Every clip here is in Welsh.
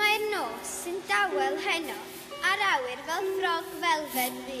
Mae'r nos sy'n dawel heno a'r awyr fel ffrog felfed ddu.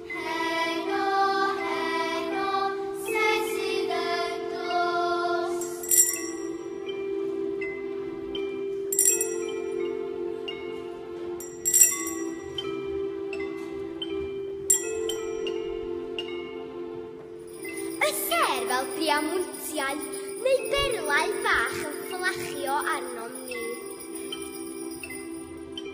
Heno, heno, sef sydd yn dod. Y sêr fel priamwyntiau neu berlau fach yn fflachio arnom ni.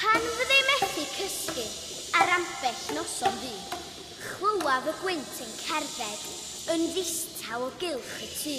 Pan fydde i methu cysgu ar ambell noson fu, chlywaf y gwynt yn cerdded yn ddistaw o gylch y tŷ.